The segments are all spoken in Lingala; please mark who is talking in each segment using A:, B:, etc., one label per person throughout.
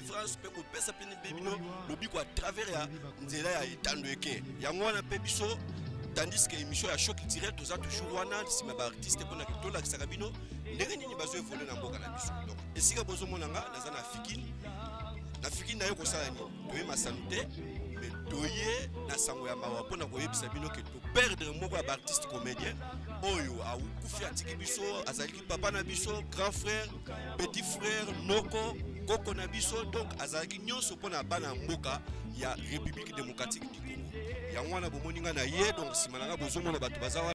A: délivrance mpe kopesa mpe nde bino lobiko à travers ya nzela ya etando eke yango wana mpe biso tandis que émission ya choc culturel toza toujours wana nsima baartiste mpona tolakisaka bino ndenge nini bazo evole na mboka na biso donc esika bozomona nga naza na fikine na fikine naye kosala nini toye masano te me toye na sango ya mawa mpona koyebisa bino ke toperdre moko ya baartiste comédien oyo akufi atiki biso azali papa na biso grand frère petit frère noko koko na biso donc azalaki nyonso mpo na bana ya mboka ya république démocratique du congo yango wana bomoni ngai na ye donc nsima na ngai bozomona bato baza wana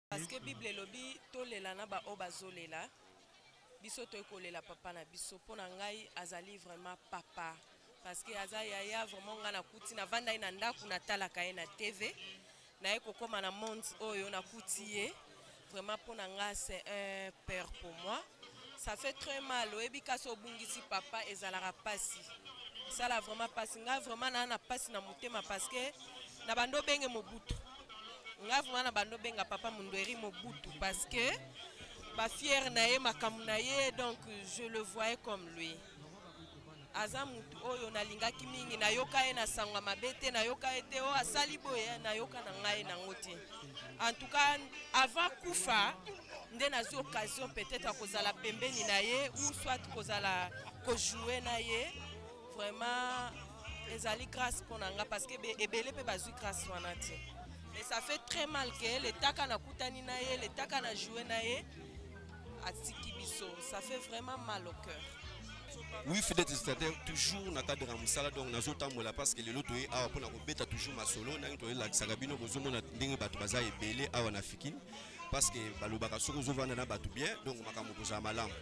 B: Parce que Bible elobi tolela na ba oyo bazolela. Biso toye kolela papa na biso mpo na ngai azali vraiment papa parce que aza yaya vraiment ngai nakuti navandai na ndako natalaka ye na TV naye kokoma na monde oyo nakuti ye vraiment mpo na ngai c'est un père pour moi ça fait très mal oyebi kasi obungisi papa ezalaka mpasi esala vraiment mpasi ngai vraiment naa na mpasi na motema parce que na bando obenge mobutu nga vraiment na bando benga papa mundueri mobutu parce que ba fier na ye makambo na ye donc je le voyais comme lui aza mutu oyo nalingaki mingi nayoka ye na sango ya mabe te nayoka ye te oyo oh, asali boye nayoka na ngai nango te en tout cas avant kufa nde nazwi occasion peut-être ya kozala pembeni na ye ou soit kozala kojoue na ye vraiment ezali grâce mpo na nga parce que ebele mpe bazwi grâce wana te mais ça fait très mal que letaka nakutani na ye letaka na joue na ye atiki biso ça fait vraiment mal au cœur oui
A: fidèle testateur toujours na cadre ya mosala donc nazotambola parce que lelo toye awa mpona kobeta toujours masolo ndenge toyelakisaka bino bozomona ndenge bato baza ebele awa na fikini parce que balobaka soki ozovanda na bato bien donc makambo kozala malamu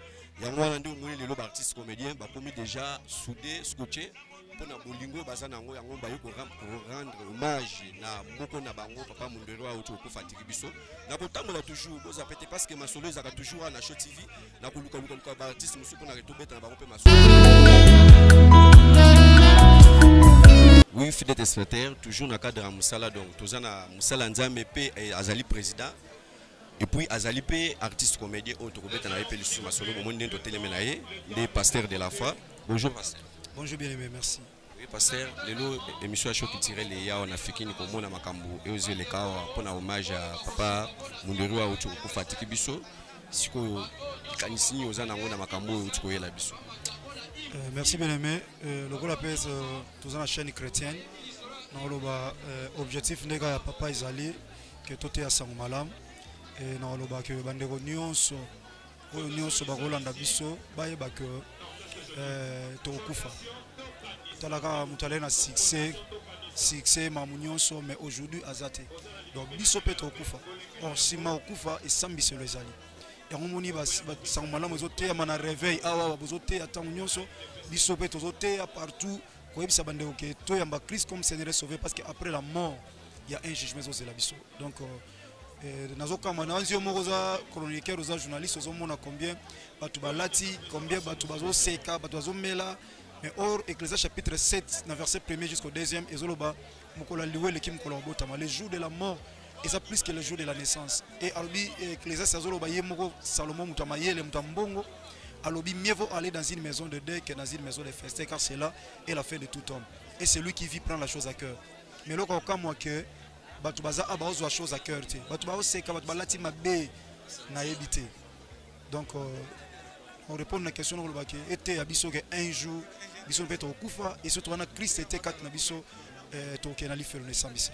A: yango wana nde omoni lelo baartiste comédien bakomi déjà soude scotche mpo na bolingo baza na yango yango baye korendre hommage na moko na bango papa mondero auti kokufa atiki biso na kotambola toujours boza pete parce que masolo ezalaka toujours wana na show tv na koluka luka luka ba artiste mosusu mpo na reto beta na bango mpe masu oui fidèle téléspectateur toujours na cadre ya mosala donc toza na mosala nzambe mpe eh, azali président et puis azali mpe artiste comédien oyo tokobeta na ye mpe lisusu masolo bomoni ndenge toteleme na ye nde pasteur de la foi bonjour pasteur bonjour bien aimé merci
C: Oui, pasteur,
A: lelo émission ya show culturel eya awa na fikini komona makambo eyo ezo eleka awa mpo na hommage ya papa munderi oyo auti kokufa atiki biso sikoyo likanisi nini oza nango na makambo oyo auti koyela biso Euh, merci
C: bien aimé euh, lokola mpe euh, toza na chaîne chrétienne nakoloba euh, objectif nde kaka ya papa ezali ke toteya sango malamu e nakoloba ke bandeko nyonso oyo nyonso bakolanda biso bayeba ke eh, tokokufa tala kaka moto alai na succès succès mamu nyonso mais aujourd'hui aza te donc biso mpe tokokufa or nsima okufa esambiselo ezali yango omoni basango malamu ezoteyama na réveil awa bozoteya ntango nyonso biso mpe tozoteya partout koyebisa bandeko ke toyamba christ comme seigneur sauvé parce que après la mort il y a un jugement ezozela biso donc euh, Eh, nazokamwa na yo moko oza chroniqueur oza journaliste ozomona combien bato balati combien bato bazoseka bato bazomela mais or ecclesia chapitre 7 na verset premier jusqu'au deuxième ezoloba mokolo ya liwa eleki mokolo ya kobotama le jour de la mort eza plus que le jour de la naissance e alobi eh, ecclesias azoloba ye moko salomon moto ya mayele moto ya mbongo alobi mieux vaut aller dans une maison de deuil que dans une maison de feste car cela est la fin de tout homme et celui qui vit prend la chose à cœur mais eloko akokamwa que bato baza awa ah, baozwa chose à cœur te bato baoseka bato balati mabe nayebi te donc euh, on répondre na question nakoloba ke eteya biso ke un jour biso mpe tokokufa et surtout wana krist ete kati na biso euh, tokokende na lifelo na esambisi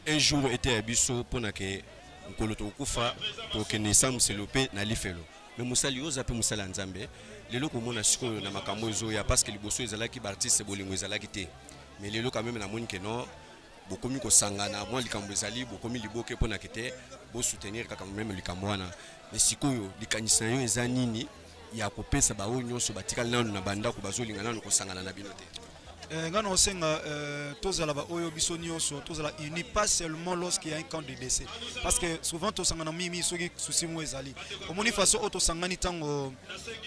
C: un jour
A: eteya biso mpo na ke nkolo tokokufa tokokende esambiselo mpe na lifelo me mosali oyo oza mpe mosali ya nzambe lelo komona sikoyo na makambo ezoya parce que liboso ezalaki baartiste bolingo ezalaki te mais lelo quand meme namoni ke non bokomi kosangana mwa likambo ezali bokomi liboke mpo na kete bosoutenir kaka meme likambo wana me sikoyo likanisi na yo eza nini ya kopesa baoyo nyonso batikali nanu na bandako bazolinga nanu kosangana na bino te eh, ngai naosenga
C: eh, tozala baoyo biso nyonso tozala uni pas seulement lorsqu'il y a un camp de décès parce que souvent tosangana mimi soki susi moko ezali omoni façon oyo tosangani ntango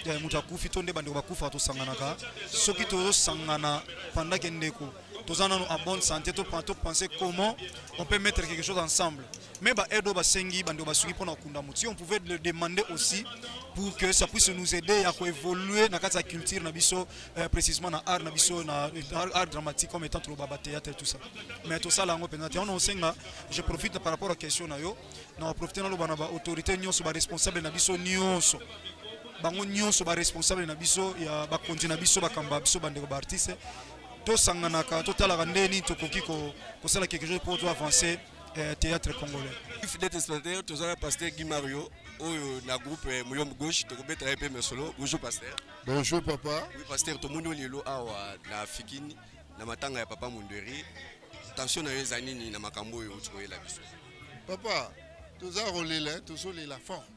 C: eh, moto akufi to nde bandeko bakufa tosanganaka soki tozosangana pandake ndeko toza nanu en bonne santé to penser comment on peut mettre quelque chose ensemble mais ba aide oyo basengi bande basuki mpona kokunda motu si on pouvait le demander aussi pour que ça puisse nous aider à évoluer na kati ya culture na biso euh, précisément na art na biso na art dramatique comme étant toloba ba théâtre et tout ça mais tosala yango mpenza te wana osenga je profite par rapport à question na yo na baprofite naloba na baautorité nyonso baresponsable na biso nyonso bango nyonso baresponsable na biso ya bakonzi na biso bakamba biso bandeko baartiste tosanganaka totalaka nde nini tokoki kosala quelque chose mpo to avancer eh, théâtre congolais fidèle spectateur
A: toza na pasteur guy mario oyo na groupe eh, moyombe gauche tokobetela ye mpe masolo bonjour pasteur bonjour papa
D: oui pasteur tomoni yo
A: lelo awa na fikini na matanga ya papa monderi tension na yo eza nini na makambo oyo
D: otikoyela
A: biso papa toza
D: kolela tozolela fort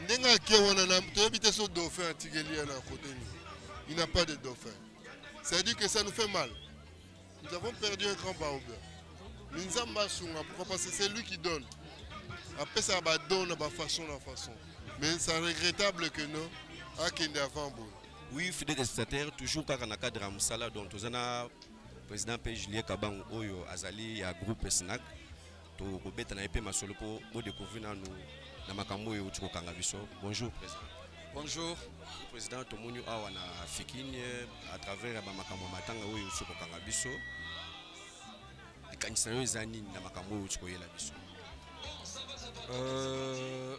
D: ndenge ake wana na toyebi te so dauphin atikeli ye na kote nini il n'a pas de dauphin ça veut dire que ça nous fait mal nous avons perdu un grand baobe mais nzambe asunga pourquoi parce que c'est lui qui donne apesaka badon na bafaçon na façon mais ça regrettable que non akende avant boye oui
A: fidèle testataire toujours kaka na cadre ya mosala donc toza na président mpe julien kabango oyo azali ya groupe snack tokobeta na ye mpe masolo mpo bodecouvrir nanu na makambo oyo euti kokanga biso bonjour président bonjour
E: président
A: tomoni awa na fikini à travers ya bamakambo ya matanga oyo euti kokanga biso likanisi na yo eza nini na makambo oyo euti koyela biso euh,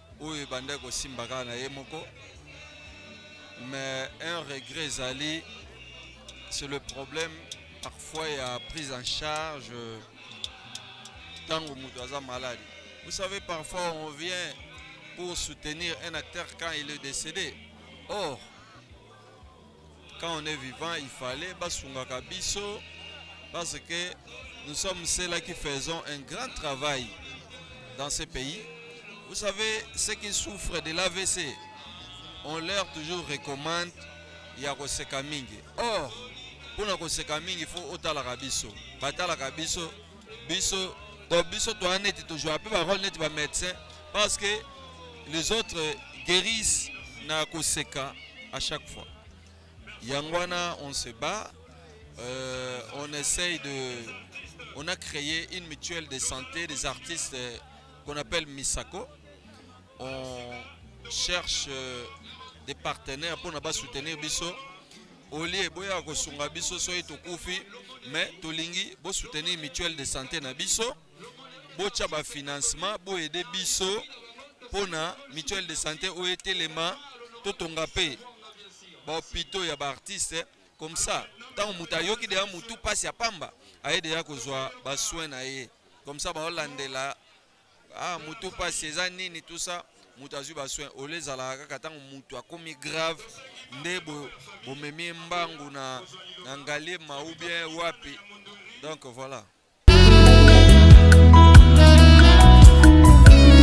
E: oyo ebanda kosimba kaka na ye moko mais un regret ezali c'est le problème parfois il y a prise en charge euh, tango moto aza malade vous savez parfois on vient pour soutenir un acteur quand il est décédé or quand on est vivant il fallait basungaka biso parce que nous sommes ceux-là qui faisons un grand travail dans ce pays vous savez ceux qui souffrent de l'AVC on leur toujours recommande ya koseka mingi or mpona koseka mingi fo otalaka biso batalaka biso biso donc biso toza neti tozwa mpe barole neti bamédecin parce que les autres guérissent na koseka à chaque fois yango wana on se bat euh, on essaye de on a créé une mutuelle de santé des artistes euh, qu'on appelle Misako on cherche euh, des partenaires pour ne pas soutenir Bisso olie boyaka kosunga biso soki tokufi mais tolingi bosoutenir mutuelle de santé na biso botya bafinancement boyede biso mpo na mutuelle de santé oyo etelema totonga mpe bahopitaux ya baartiste comme ça ntango moto ayoki deya motu mpasi ya pamba aye deya kozwa basoin na ye comme ça baolandela ah mutu mpasi eza nini tout ça moto azwi basoin ole ezalaka kaka ntango moto akomi grave nde bomemi bo mbangu na, na ngaliema ou bien wapi donc voilà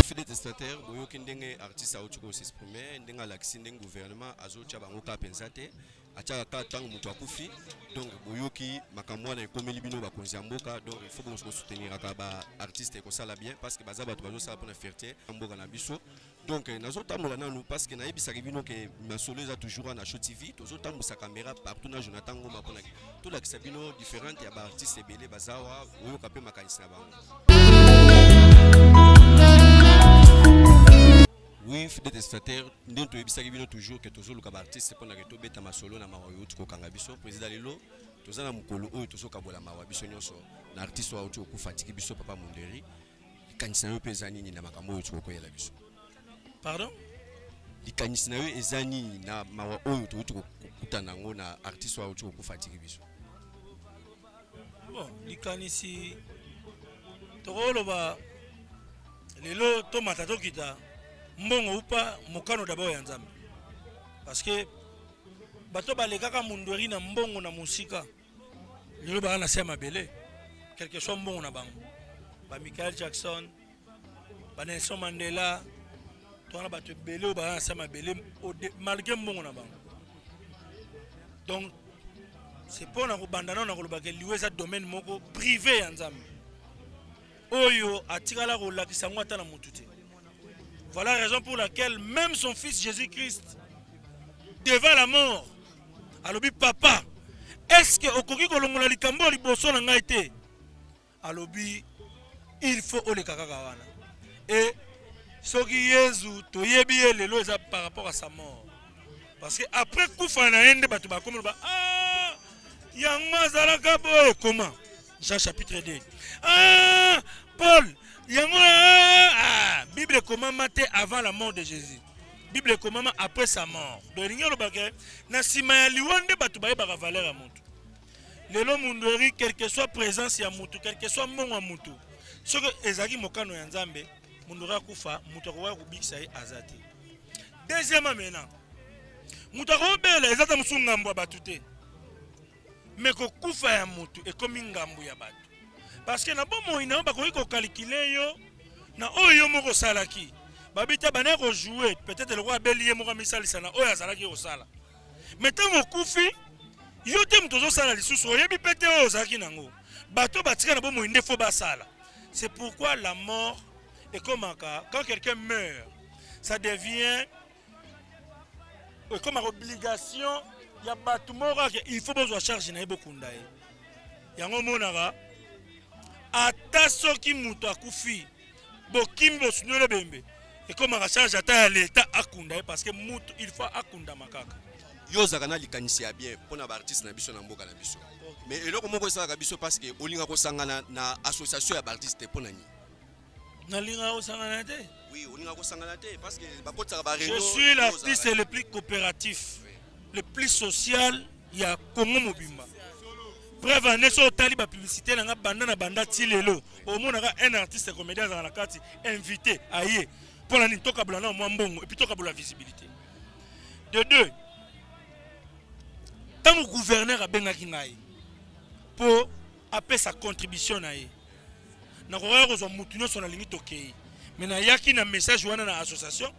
A: fide testataire boyoki ndenge artiste auti kosexprime ndenge alakisi ndenge gouvernement azotya bango ka mpenza te atiaka kaka ntango moto akufi donc boyoki makambo wana ekomeli bino bakonzi ya mboka donc il faut bosouteniraka baartiste ekosala bien parce que baza bato bazosala mpona fierté ya mboka na biso donc eh, nazotambola nanu parce que nayebisaki bino ke masolo eza toujours na show tv tozotambusa caméra partout na jonathan ngoma mpona tolakisa bino différente ya baartiste ebele bazawa oyoka mpe makanisi na bango Oui, fidèle testateur, nous avons dit toujours que tous les artistes pour la reto beta masolo na mawa yout ko kanga biso président lelo toza na mukolo oyo tozo kabola mawa biso nyonso na artiste wa oyo fatiki biso papa Monderi likanisi na yo mpe eza nini na makambo oyo tokokoyela biso pardon likanisi na yo eza nini na mawa oyo toyuti kokutana yango na artiste wa oyo tokokufa atiki biso bon
F: likanisi tokoloba lelo tomata tokita mbongo upa mokano dabord ya nzambe parce que bato balekaka mundueri na mbongo na mosika lelo baa na se ya mabele quelque soit mbongo na bango ba michael jackson ba Nelson Mandela to wana bato ebele oyo baza na se mabele malgré mbongo na bango donc c'est mpo na kobanda nao na kolobaka liwa eza domaine moko privé ya nzambe oyo atikala kolakisa yango ata na motu te voilà raison pour laquelle même son fils jésus christ devant la mort alobi papa est ce que okoki kolongola likambo oyo liboso na ngai te alobi il faut oleka kaka wana e soki yezu toyebi ye lelo eza par rapport à sa mort parce que après kufa na ye nde bato bakomi loba ah, yango azalaka boye koma jean chapitre 2 ah, paul yango ah, ah, bible ekomama te avant la mort de jésus bible ekomama après sa mort donc elingi olobake na nsima ya liwa nde bato bayebaka valeur ya moto lelo mundweri quelque soit présence ya mutu quelque soit mbongo ya mutu soki ezalaki mokano ya nzambe mundweri akufa mutu akokoya kobikisa ye aza te deuxièmement maintenant moto akobela eza ata mosusu ngambo ya bato te me kokufa ya moto ekomi ngambo ya bato parceke na bomoi na yo bakoki kokalikile yo na oyo yo moko osalaki babita bana kojoue peut-être lokola abeli ye moko amisalisa na oyo azalaki kosala me ntango okufi yo te moto ozosala lisusu oyebi mpe te oyo ozalaki nango bato batika na bomoi nde fo basala c'est pourquoi la mort ekomaka quand quelqu'un meurt ça devient ekomaka obligation ya bato moko ake il faut bozwa charge na ye bokunda ye yango omonaka ata soki moto akufi bokimi bosunoli ebembe ekomaka charge ata ya leta akunda ye parce que mutu il faut akundama kaka yo ozalaka na
A: likanisi ya bien mpo na baartiste na biso na mboka na biso mais eloko moko esalaka biso parce que olinga kosangana na association ya baartiste te mpo na nini nalingaka
F: kosangana te oui olinga kosangana
A: te parce que bakotisaka bareno je suis l'artiste
F: le plus coopératif oui. le plus social ya congo mobimba preuve ane so otali bapublicité na nga banda na banda ti lelo omonaka un artiste comédien azala na kati invité aye mpo na nini tokabola nao mwa mbongo epuis tokabola visibilité de deux ntango gouverneur abengaki ngai mpo apesa contribution na ye nakokaki kozwa motu nyonso nalingi tokei me nayaki na message wana na association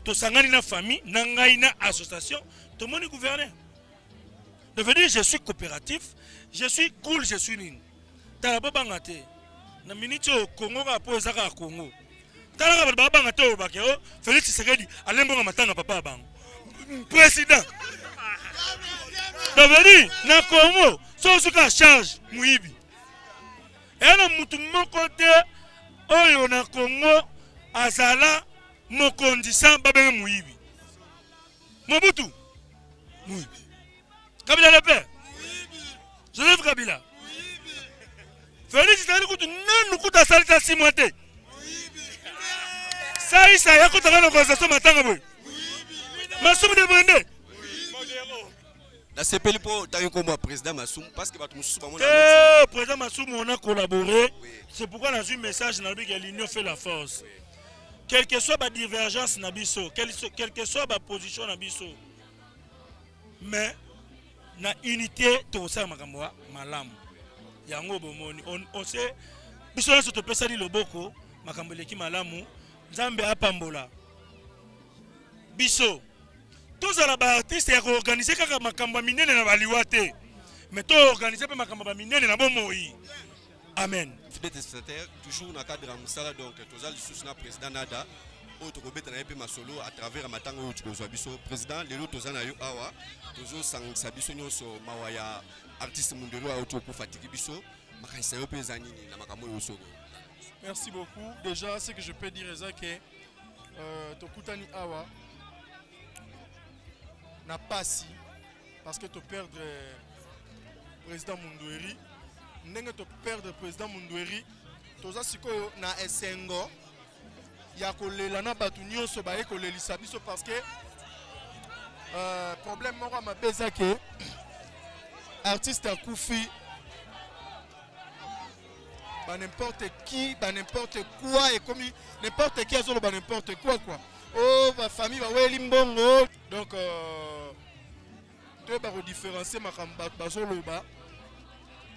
F: tosangani na famille na ngai na association tomoni gouverneur de venir je suis coopératif je suis cool je suis nini tala babanga te na miniti oyo kongo kaka mpo eza kaka kongo tala nga bato babanga te olobake o oh, felix tshisekedi alembonga matanga papa ya bango président davedi na congo soki osuki ya charge moyibi eya na motu moko te oyo na congo azala mokonzi sans babenge moyibi mobutu moyibi kabila lepe joseph kabila felix tali kutu nanu kutu asalisa simwa te saisa yakotaka na organisation matanga boye masumu de brende
A: nasepeli mpo ntangi nkombo ya président masumu parce que bato mosusu bango eh,
F: président masumu on a collaboré c'est pourquoi nazwi message na lobiki ya l'union fait la force quel que soit badivergence na biso quel que soit baposition na biso mais na unité tokosala makambo ya malamu yango bomoni ose biso nyonso topesani loboko makambo eleki malamu nzambe apambola biso tozala baartiste ya koorganize kaka makambo ya minene na baliwa te me toorganize mpe makambo ya minene na bomoi amen fidèle destinataire
A: toujours na cadre ya mosala donc toza lisusu na président nada oyo tokobeta na ye mpe masolo à travers ya matanga oyo tokozwa biso président lelo toza na yo awa tozosangisa biso nyonso mawa ya artiste mundelo oyo tokokufa tiki biso makanisa yo mpe eza nini na makambo oyo osoko merci beaucoup
G: déjà ce que je peux dire eza ke euh, tokutani awa na pasi parce que to perdre euh, président Mundueri ndenge to perdre président Mundueri toza sikoyo na esengo ya kolela na bato nyonso baye kolelisa biso parce que euh, problème moko ya mabe eza ke artiste akufi ba n'importe qui ba n'importe quoi ekomi n'importe qui azoloba n'importe quoi quoi o oh, bafamille baweli mbongo donc euh, toyeba kodifferencie makambo bato bazoloba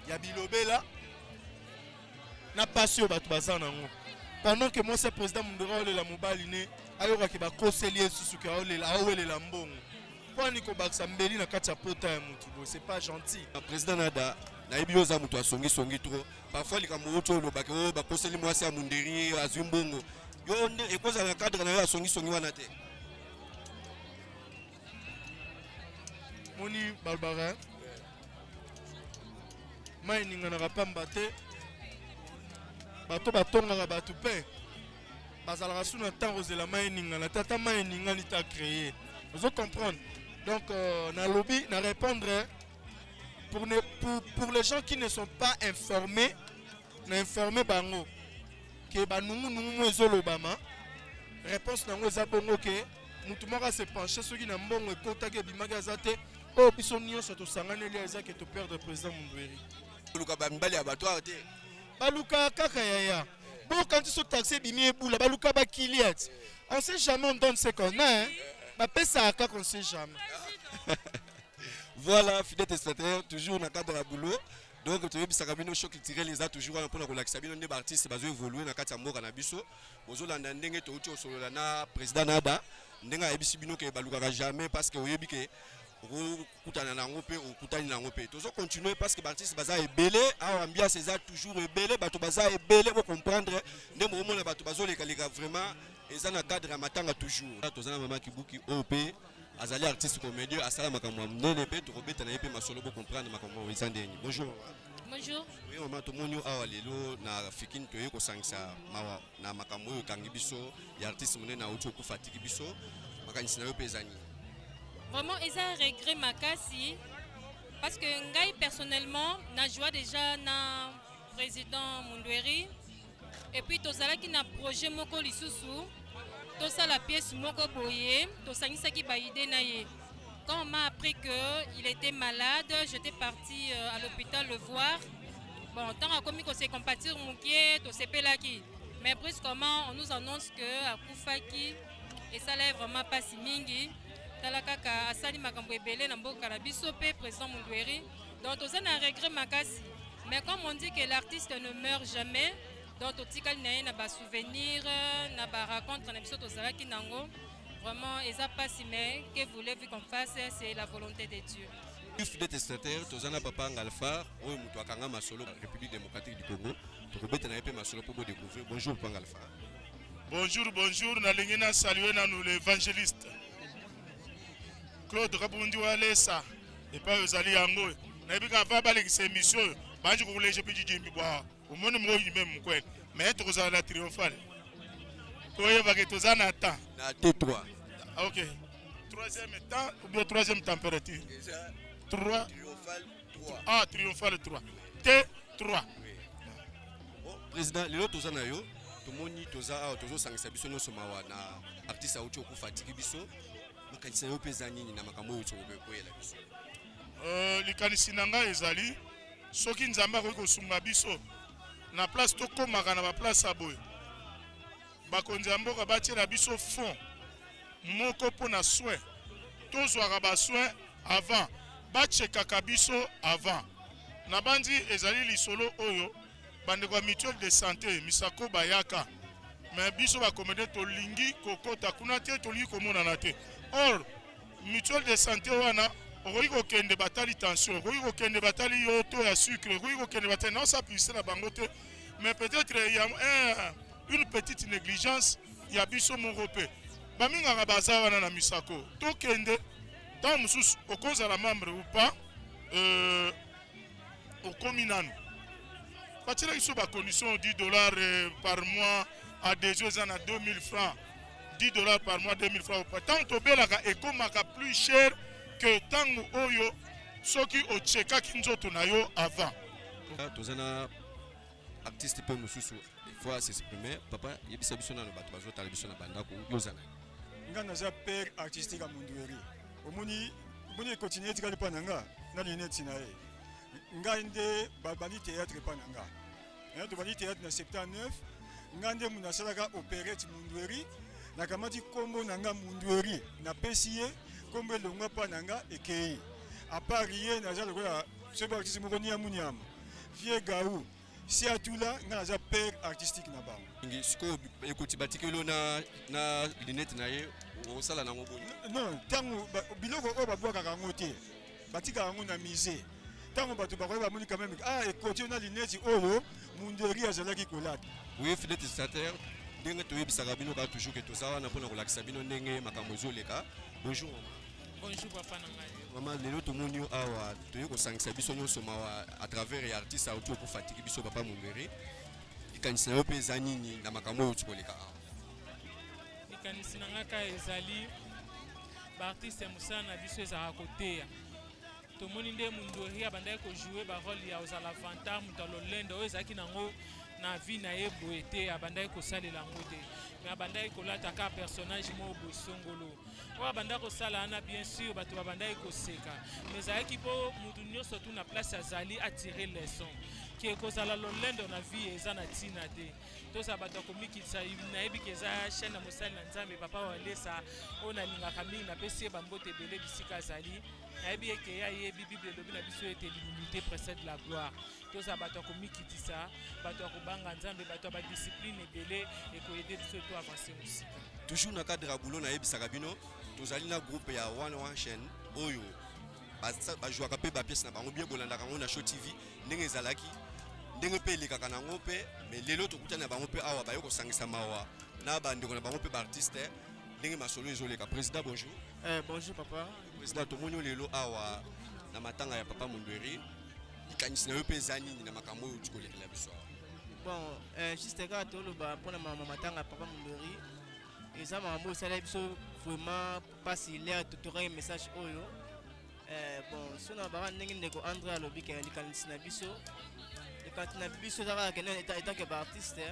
G: ya bilobela na mpasi oyo bato baza nango pendant que mwasi ya président mundora aolela mobali ne ayokaki bakoseli ye susu ke aolela aowelela mbongo kwani kobakisa mbeli na kati ya pota ya motu boye c'est pas gentil président nada
A: nayebi yo oza moto asongisongi trop parfois likambo outi olobaki o oh, bakoseli mwasi ya munderi azwi mbongo yo nde ekozala na cadre na yo asongisongi wana te
G: moni balobaka mai eninganaka mpamba te bato batongaka bato mpe bazalaka su na ntango ozela mai eningana te ata mai eningani ta créer ozo comprendre donc euh, nalobi na répondre pour, ne, pour, pour les gens qui ne sont pas informés na informe bango ke banungunungu mo ezolobama réponse na yango eza bongo ke motu moko ase penche soki na mbongo ekotaki ebimaki aza te oyo biso nyonso tosanganeli eza ke toperdre président mundueri koluka bamibali
A: ya bato awa te baluka
G: kaka yaya bokanisi so taxi ebimi ebula baluka bakiliat on sait jamais on donne ce qu'on a hein? bapesaka kaka on sait jamais
A: voilà fidèle testateur toujours na cadre ya boulot donc toyebisaka bino show culturel eza toujours wana mpona kolakisa bino nde baartiste bazo évolue na kati ya mboka na biso bozolanda ndenge touti kosolola na président naba ndenge ayebisi bino ke balukaka jamais parce que oyebi ke okokutana na yango mpe okutani na yango mpe tozo continue parce que baartiste baza ebele awa ambiance eza toujours ebele bato baza ebele bocomprendre nde mokomona bato bazolekaleka vraiment eza na cadre ya matanga toujours toza na mama kibuki oyo mpe azali artiste comédien asala makambo ya monene mpe tokobeta na ye mpe masolo bocomprendre makambo oyo eza ndeni bonjour bonjour
B: oui mama tomoni yo
A: awa lelo na fikini toyei kosangisa mawa na makambo oyo ekangi biso ya artiste monene auti okufa atiki biso makanisi na yo mpe eza nini vraiment
H: eza regret makasi parce que ngai personnellement na joie déjà na président mundueri et puis tozalaki na projet moko lisusu tosala pièce moko boye tosangisaki baide na ye quand on m'a appris que il était malade j'étais parti euh, à l'hôpital le voir bon ntango akomi kose compatir moke tosepelaki mais brusquement on nous annonce que akufaki esala ye vraiment mpasi mingi tala kaka asali makambo ebele na mboka na biso mpe président mundueri Donc toza na regret makasi. Mais comme on dit que l'artiste ne meurt jamais, donc totikali na ye na ba souvenirs, na ba rencontres na biso tozalaki nango. Vraiment eza pasi mais que voulez-vous qu'on fasse, c'est la volonté de Dieu. Plus de destinataires,
A: toza na papa Ngalfar, oyo moto akanga masolo République démocratique du Congo. Tokobeta na ye mpe masolo mpo bo découvrir. Bonjour papa Ngalfar. Bonjour,
I: bonjour, nalingi na saluer nanu l'évangéliste Claude Kabundi Walesa. epai ozali yango oyo nayebi kaka va balekisa emission oyo banji kokuleje mpe jijimbi bwa omoni moko yime mokwele me tokozala na triomphale koyebake toza na temps na te 3 ok
A: troisième
I: temps ou bien troisième température 3
A: ah triomphale 3
I: te 3
A: président lelo toza na yo tomoni toza awa tozosangisa biso nyonso mawa na artiste auti okufa atiki biso makanisi na yo mpe eza nini na makambo oyo tokokoyela biso euh,
I: likanisi na ngai ezali soki nzambe akoki kosunga biso na place tokomaka na baplace ya boye bakonzi ya mboka batiela biso fond moko mpo na soin tozwaka basoin avant bachekaka biso avant nabanzi ezali lisolo oyo bandeko ya mutuelle de santé misako bayaka me biso bakomede tolingi kokota kuna te tolingi komonana te or mutuelle de santé wana okoki kokende batali tension okoki kokende batali yo to ya sucre okoki kokende batali naosapise na bango te mais peut-être ya eh, une petite négligence ya biso moko mpe baminganga baza wana na misako tokende ntango mosusu okozala membre ou pas euh, okomi nanu batyelaki so bacondition 10 dollars euh, par mois adhesion eza na 2000 francs 10 dollars par mois 2000 francs opa ntango tobelaka ekomaka plus cher que ntango oyo soki ochekaki nzoto na yo avant ah, toza na
A: artiste mpe mosusu faut asexprime papa yebisa biso nano bato bazotala biso na bandako yo ozala nga naza
C: père artistique ya mondueri omoni omoni ekontinue etikali mpa na nga na lineti na ye ngai nde babandi théâtre mpa na nga eh, tobandi théâtre na 79 ngai nde mundu asalaka operete mundueri nakamati nkombo na nga mundueri napesi ye nkombo elongwa mpa na nga ekei apart ye naza lokola soki bakisi moko niamu niamu vie gau si atula nga naza père artistique na bango ngi sikoyo
A: ekoti batikeli yo na, na lunette na ye okosala nango boni non ntango
C: biloko oyo babwakaka yango te batikaka yango na musée ntango bato bakoki bamoni quand même ah ekoti yo na lunette oyo munderi azalaki kolata oui filet
A: stateur ndenge toyebisaka bino kaka toujours ke toza wana mpona kolakisa bino ndenge makambo ezoleka bonjour Bonjour
J: papa na ngai. Mama lelo tomoni yo
A: awa toye kosangisa biso nyonso mawa à travers ya artiste auti okofatiki biso papa Mumbere. Likanisi na yo mpe eza nini na makambo oyo tikoleka awa?
J: Likanisi na ngai kaka ezali baartiste ya mosala na biso ezalaka koteya tomoni nde mundori abandaki kojoue barole ya ozala vantard moto ya lolendo oyo ezalaki nango na vie na ye boye te abandaki kosalela yango te mais abandaki kolata kaka personnage moko boye songolo oyo abandaki kosala wana bien sûr bato babandaki koseka mais ezalaki mpo moto nyonso tu na place azali atire leçon ke kozala lolendo na vie eza na ntina te tozala bato ya komikitisa nayebi ke eza chaine ya mosali na nzambe papa walesa oyo nalingaka mingi napesi ye bambote ebele bisika azali nayebi eke ya yebi bible elobi na biso ete l'humilité précède la gloire tozala bato ya komikitisa bato ya kobanga nzambe bato ya badiscipline ebele ekoyede biso to avance mosika toujours na cadre ya
A: boulot nayebisaka bino tozali na groupe ya one one chaine oyo bajouaka mpe bapiese na bango bie bolandaka yango na show tv ndenge ezalaki ndenge mpe elekaka na yango mpe me lelo tokutani na bango mpe awa baye kosangisa mawa na bandeko na bango mpe baartiste ndenge masolo ezoleka président bonjour eh, bonjour papa
K: President, tomoni lelo
A: awa na matanga ya papa Mondweri, likanisi na yo mpe eza nini na makambo oyo tikolekela biso awa? Bon, euh,
K: juste kaka toloba mpo na mama matanga ya papa Mondweri, eza makambo esalaki biso vraiment mpasi lere totokaki message oyo euh, bon so na baka ndenge ndeko andre alobi ke likanisi na biso likanisi na biso eza kaka kende etake baartiste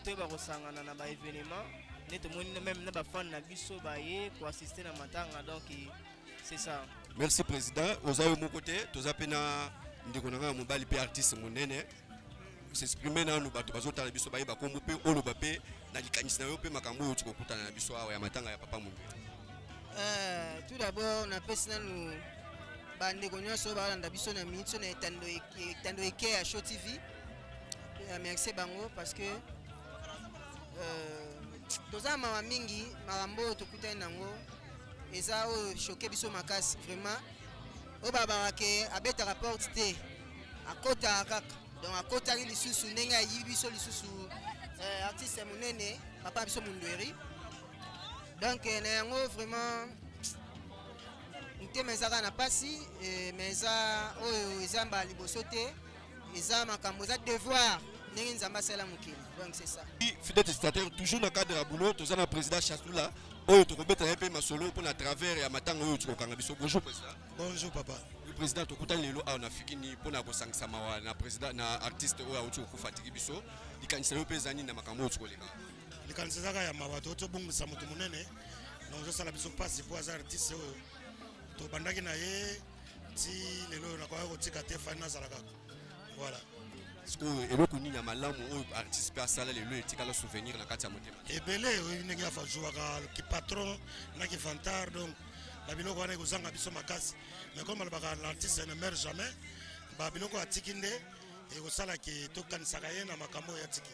K: toyeba kosangana na baévénement nde tomoni meme na bafane na biso baye koassiste na matanga donc c'est ça merci président
A: oza yo moko te toza mpe na ndeko na ngai ya mobali mpe artiste monene s'exprime nanu bato bazotala biso bayeba nkombo mpe oloba mpe na likanisi na yo mpe makambo oyo tikokutana na biso awa ya matanga ya papa mombe euh,
L: tout d'abord napesi nanu bandeko nyonso balanda biso na minute na etando eke ya show tv remercie bango parce que euh, toza mawa mingi makambo oyo tokutani nango eza oyo choke biso makasi vraiment oyo babaka ke abetaka porte te akotaka kaka donc akotaki lisusu ndenge ayibi biso lisusu euh, artiste monene papa biso mondweri donc euh, na yango vraiment motema ezaka na mpasi mais eza oyo eza mbala liboso te eza makambo eza devoir ndenge nzambe asala mokili donc c'est ça fidèle testateur
A: toujours na cadre ya boulot toza na président chasula oyo tokobeta ye mpe masolo mpo na travers ya matanga oyo tokokanga biso bonjour président bonjour papa
F: le président tokutani
A: lelo awa na fikini mpo na kosangisa mawa na président na artiste oyo auti kokufa atiki biso likanisa yo mpe eza nini na makambo oyo tokoleka likanisa ezaka
F: ya mawa tokoti obongisa moto monene donc ezosala biso mpasi mpo aza artiste oyo tobandaki na ye ti lelo oyo nakoya kotika te fani nazala kaka voilà sikoyo
A: eloko nini ya malamu oyo artiste mpe asala lelo etikala souvenir na kati ya motema ebele oyebi ndenge
F: afajouaka kipatron na kifantar donc na biloko wana ekozanga biso makasi mais comme alobaka l'artiste ne meurt jamais ba biloko atiki nde ekosala ke tokanisaka ye na makambo oyo atiki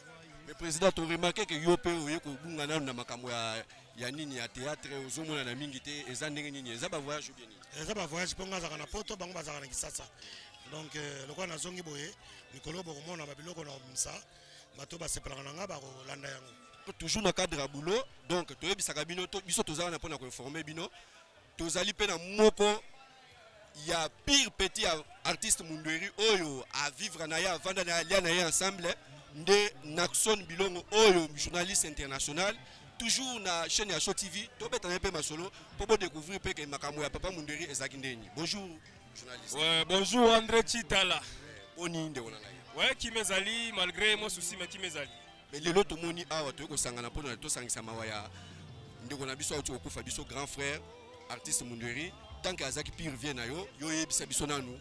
F: mais président
A: toremarke ke yo mpe oye kobunga nano na makambo ya ya nini ya théâtre ozomonana mingi te eza ndenge nini eza ba voyage bien nini eza ba voyage mpo ngai azaka
F: na poto bango bazaka na kisasa donc euh, lokola nazongi boye mikolo bokomona babiloko na misa bato basepelaka na ngai bakolanda yango toujours na cadre ya
A: boulot donc toyebisaka bino biso tozalaka na mpo na koinforme bino tozali mpe na moko ya pire petit ya artiste mundueri oyo avivre na ye avanda na ye alia na ye ensemble nde naxon bilongo oyo journaliste international toujours na chaîne ya show tv tobetana mpe masolo mpo bodécouvrir mpe ke makambo ya papa munderi ezalaki ndeni bonjour journaliste ouais, bonjour
M: andré chitala boni ndeko na
A: ngai ouais, kima ezali
M: malgré mwa souci ma kima ezali Mais lelo tomoni
A: awa toyei kosangana mpo na tosangisa mawa ya ndeko na biso auti kokufa biso grand frère artiste Mundweri tant que azaki pire vie na yo yo yebisa biso nanu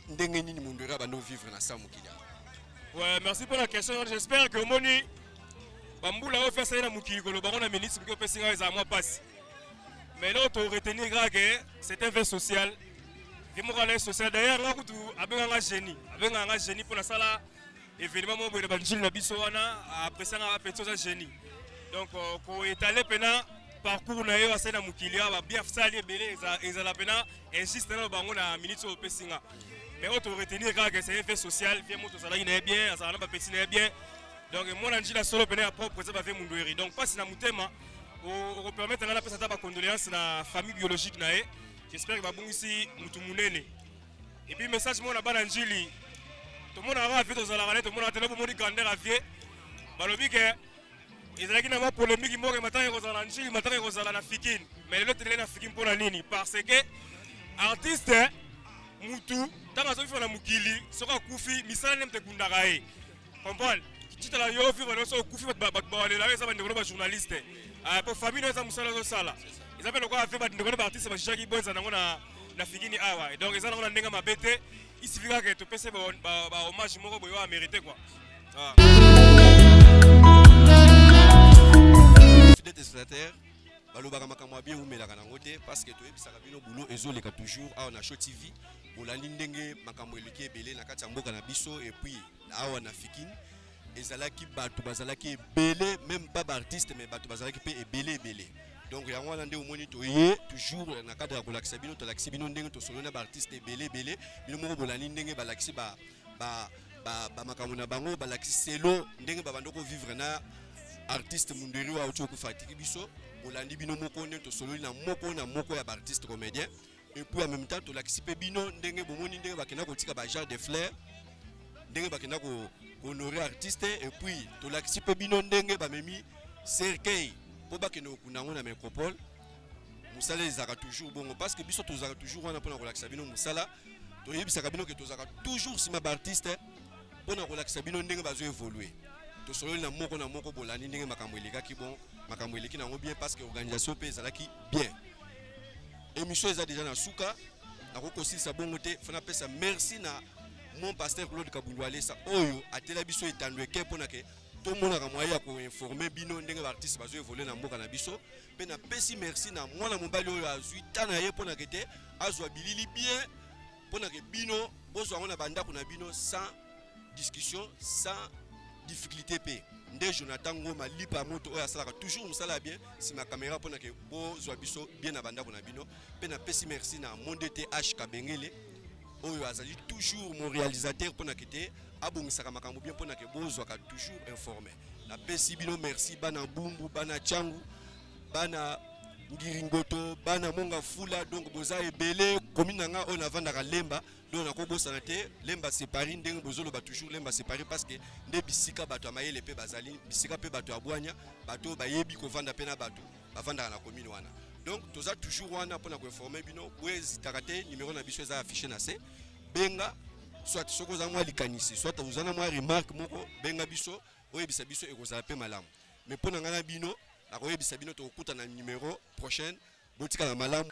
A: ndenge nini Mundweri abandi vivre na sa mokili Ouais, merci
M: pour la question. J'espère que Moni, Bamboula va faire ça dans Mouki, que le baron la ministre, que le président est à moi passe. Mais là, on retenir que c'est un fait social. Démocratie social. D'ailleurs, là, on a un génie. On a un génie pour la salle. evenema moko boye na banjili na biso wana apresanga bapeti oza génie donc euh, koetale mpena parcours na yo asali na mokili awa babia sali ebele ezala mpena injuste nano bango na minute oyo opesi nga mais oyo toretenir kaka ke c'est vie sociale vie moto ozalaki na ye bien azala na bapeti na ye bien donc mwana njila solo mpena ya propre eza bavie mundueri donc mpasi na motema okopermettre nga napesa ata bacondoléance na famille biologique na ye j'espère ke babungisi motu monene Et puis message mona bana njili. Tomona kaka vie tozalaka ne tomona tele bomoni grandeur ya vie. Balobi ke ezalaki na mwa polemiki moko ya matanga ekozala na njili matanga ekozala na fikini me lelo telele na fikini mpo na nini parce que artiste mutu ntango azokifana na mokili soki akufi misala nde moto ekundaka ye comprendre titala yo vivre nyonso okufi bato bawalela yo eza bandeko no bajournaliste ah, po famille no eza mosala ozosala eza mpe lokola mpe bandeko no baartiste bajijaki bonza nango na figini awa ah, donc eza nango na ndenge mabe te isifi kaka ke topese bahommage moko boyo amerite kua ah.
A: fidete spectateur balobaka makambo ya bien eumelaka nango te parce que toyebisaka bino boulot ezoleka toujours awa na show tv bolandi ndenge makambo eleki ebele na kati ya mboka na biso epuis awa na fikin ezalaki bato bazalaki ebele meme pas baartiste mais bato bazalaki mpe ebele ebele donc yango wana nde omoni toye toujours na cadre ya kolakisa bino tolakisi bino ndenge tosololi na baartiste ebele ebele bino moko bolandi ndenge balakisi ba, ba, ba, ba makambo na bango balakisi selo ndenge babandi kovivre na artiste munderi oyo auti okufa atiki biso bolandi bino moko nde tosololi na moko na moko ya baartiste comédien et puis en même temps tolakisi mpe bino ndenge bomoni ndenge bakenda kotika ba genre de fleur ndenge bakenda ko honore artiste et puis tolakisi mpe bino ndenge bamemi cercueil mpo bakende kokunda yango na métropole mosala ezalaka toujours bongo parce que biso tozalaka toujours wana mpona kolakisa bino mosala toyebisaka bino ke tozalaka toujours nsima baartiste mpona kolakisa bino ndenge bazo évoluer tosololi na moko na moko bolandi ndenge makambo elekaki bon makambo eleki na yango bien parce que organisation mpe ezalaki bien Emission eza deja na suka. Nako kosilisa bongo te. Fana pesa merci na mon pasteur Claude Kabundu Alesa oyo atela biso etando eke pona ke tomonaka moyen ya koinforme bino ndenge baartiste bazo evole na mboka na biso mpe napesi merci na mwana mobali oyo azwi ta na ye mpo na kete azwa bilili bien mpo na ke bino bozwa yango na bandako na bino sans discussion sans difficulté mpe nde jonathan ngoma lipa ya moto oyo asalaka toujours mosala ya bien nsima kamera mpo na ke bozwa biso bien na bandako na bino mpe napesi merci na monde te h kabengele oyo azali toujours mon réalisateur mpo na ke te abongisaka makambo bien mpo na ke bozwaka toujours informe napesi bino merci bana bumbu bana cangu bana ngiringoto bana monga fula donc boza ebele komi na nga oyo navandaka lemba donc nakobosana te lemba separi ndenge bozoloba toujours lemba separi parce que nde bisika bato ya mayele mpe bazali bisika mpe bato ya bwanya bato oyo bayebi kovanda mpe na bato bavandaka na commune wana donc toza toujours wana mpo na koinforme bino boezitaka te numero na biso eza affiche na se benga soit soki oza mwa likanisi soit oza na mwa remarque moko benga biso oyebisa biso ekozala pe malamu mais pona ngai na bino nakoyebisa bino tokokutana na numero prochaine botikala malamu